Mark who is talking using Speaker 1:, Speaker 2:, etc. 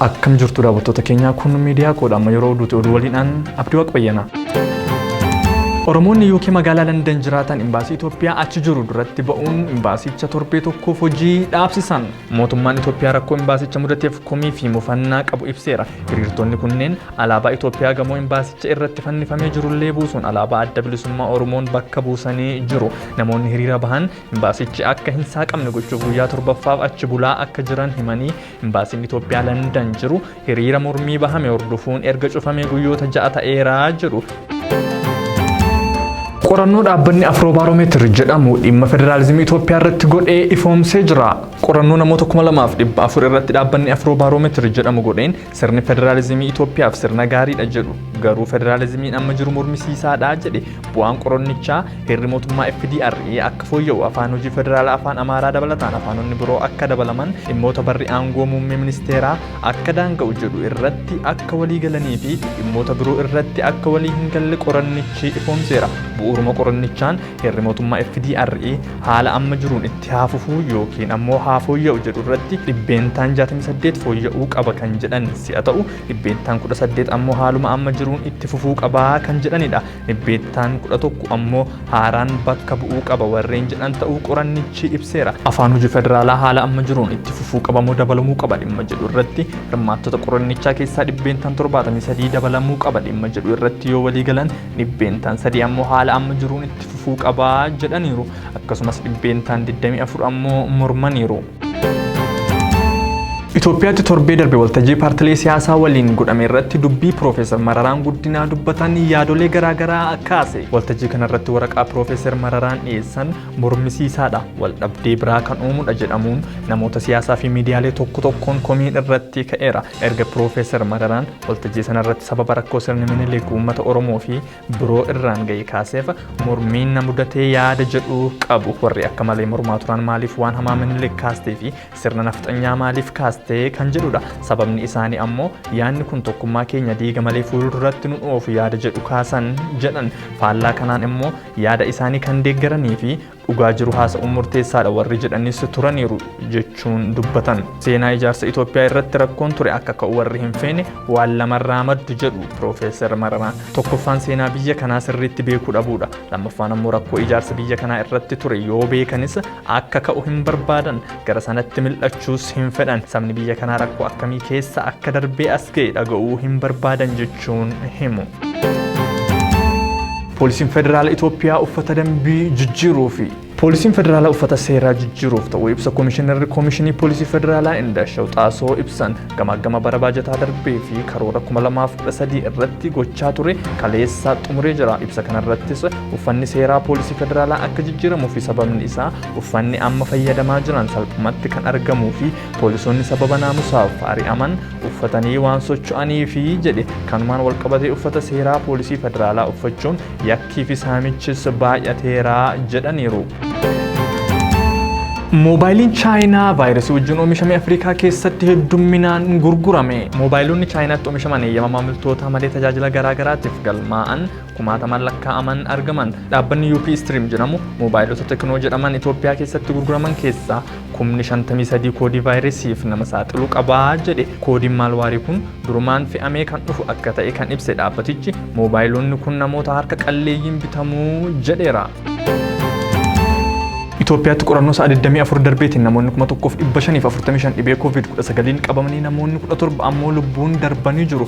Speaker 1: Akkam jirtu daawwattoota keenyaa kun miidiyaa koodha amma yeroo oduuti oduu waliinaan abdii waaq bayyanaa. Oromoonni UK magaalaa Landan jiraatan imbaasii Itoophiyaa achi jiru duratti ba'uun imbaasicha torbee tokkoof hojii dhaabsisan. Mootummaan Itoophiyaa rakkoo imbaasicha mudateef komii fi mufannaa qabu ibseera. Hiriirtonni kunneen Alaabaa Itoophiyaa gamoo imbaasicha irratti fannifamee jirullee buusuun alaabaa adda bilisummaa Oromoon bakka buusanii jiru. Namoonni hiriira bahan imbaasichi akka hin saaqamne gochuuf guyyaa torbaffaaf achi bulaa akka jiran himanii imbaasiin Itoophiyaa Landan jiru hiriira mormii bahame hordofuun erga cufamee guyyoota ja'a ta'eera jedhu. Qorannoo dhaabbanni Afroobaaromeetir jedhamu dhimma federaalizimii Itoophiyaa irratti godhee ifoomsee jira. Qorannoo namoota 2400 irratti dhaabbanni Afroobaaromeetir jedhamu godheen Sirni federaalizimii Itoophiyaaf sirna gaariidha jedhu garuu federaalizimiin amma jiru mormisiisaadha jedhe bu'aan qorannichaa heerri mootummaa FDRE akka fooyya'u afaan hojii federaalaa afaan Amaaraa dabalataan afaanonni biroo akka dabalaman dhimmoota barri aangoo muummee ministeeraa akka daanga'u jedhu irratti akka walii galanii fi dhimmoota biroo irratti akka walii hin galle qorannichi ifoomseera bu'uuruma qorannichaan Heerri mootummaa FDRE haala amma jiruun itti haa fufuu yookiin ammoo haa fooyya'u jedhu irratti dhibbeentaan 68 fooyya'uu qaba kan jedhan si'a ta'u, dhibbeentaan 18 ammoo haaluma amma jiruun itti fufuu qaba kan jedhanidha. Dhibbeettaan 11 ammoo haaraan bakka bu'uu qaba warreen jedhan ta'uu qorannichi ibseera. Afaan hojii federaalaa haala amma jiruun itti fufuu qaba moo dabalamuu qaba dhimma jedhu irratti hirmaattota qorannichaa keessaa dhibbeentaan 73 dabalamuu qaba dhimma jedhu irratti yoo waliigalan dhibbeentaan 3 ammoo haala amma jiruun itti fufuu qaba jedhaniiru. Akkasumas dhibbeentaan 24 ammoo mormaniiru. Itoophiyaatti torbee darbe waltajjii paartilee siyaasaa waliin godhame irratti dubbii Piroofeesar Mararaan Guddinaa dubbatan yaadolee garaagaraa kaase. Waltajjii kanarratti waraqaa Piroofeesar Mararaan dhiyeessan mormisiisaadha. Waldhabdee biraa kan uumudha jedhamuun namoota siyaasaa fi miidiyaalee tokko tokkoon komiin irratti ka'eera. Erga Piroofeesar Mararaan Waltajjii sana irratti sababa rakkoo sirni Minilik uummata Oromoo fi biroo irraan ga'e kaaseef mormiin na mudatee yaada jedhu qabu. Warri akka malee mormaa turan maaliif waan hamaa Minilik kaastee fi sirna nafxanyaa maaliif kaaste kan jedhudha. Sababni isaanii ammoo yaadni kun tokkummaa keenya diiga malee fuulduratti nu dhoofu yaada jedhu kaasan jedhan. Faallaa kanaan immoo yaada isaanii kan deeggaranii fi dhugaa jiru haasa'uun murteessaadha warri jedhanis turaniiru jechuun dubbatan. Seenaa ijaarsa Itoophiyaa irratti rakkoon ture akka ka'u warri hin feene waan lamarraa maddu jedhu Piroofeesar Mararaa. Tokkoffaan seenaa biyya kanaa sirriitti beekuu dhabuudha. Lammaffaan ammoo rakkoo ijaarsa biyya kanaa irratti ture yoo beekanis akka ka'u hin barbaadan. Gara sanatti mil'achuus hin fedhan. Sabni biyya kanaa rakkoo akkamii keessa akka darbee as ga'e dhaga'uu hin barbaadan jechuun himu. Poolisiin Federaala Itoophiyaa uffata dambii jijjiiruu fi Poolisiin Federaalaa uffata seeraa jijjiiruuf ta'uu ibsa Koomishinarri Koomishinii Poolisii Federaalaa Indashaw Xaasoo ibsan gamaaggama bara baajataa darbee fi karoora 2013 irratti gochaa ture kaleessaa xumuree jira. Ibsa kanarrattis uffanni seeraa Poolisii Federaalaa akka jijjiiramuu fi sababni isaa Uffanni amma fayyadamaa jiran salphumatti kan argamuu fi poolisoonni sababa naamusaaf ari'aman uffatanii waan socho'aniifi jedhe. Kanumaan walqabatee uffata seeraa poolisii federaalaa uffachuun yakkii fi saamichis baay'ateera jedhaniiru. Moobaayiliin Chaayinaa vaayirasii wajjin oomishame Afrikaa keessatti heddumminaan gurgurame. Moobaayilonni Chaayinaatti oomishaman eeyyama maamiltootaa malee tajaajila garaa garaatiif galmaa'an kumaatamaan lakkaa'aman argaman. Dhaabbanni UP Stream jedhamu moobaayilota Teknoo jedhaman Itoophiyaa keessatti gurguraman keessaa kumni 53 koodii vaayiresiif nama saaxilu qabaa jedhe. Koodiin maalwaarii kun durumaan fe'amee kan dhufu akka ta'e kan ibse dhaabbatichi moobaayilonni kun namoota harka qalleeyyiin bitamuu jedheera. Itoophiyaatti qorannoo sa'a 24 darbeetiin namoonni 1545 dhibee COVID-19 qabamanii namoonni 17 ammoo lubbuun darbanii jiru.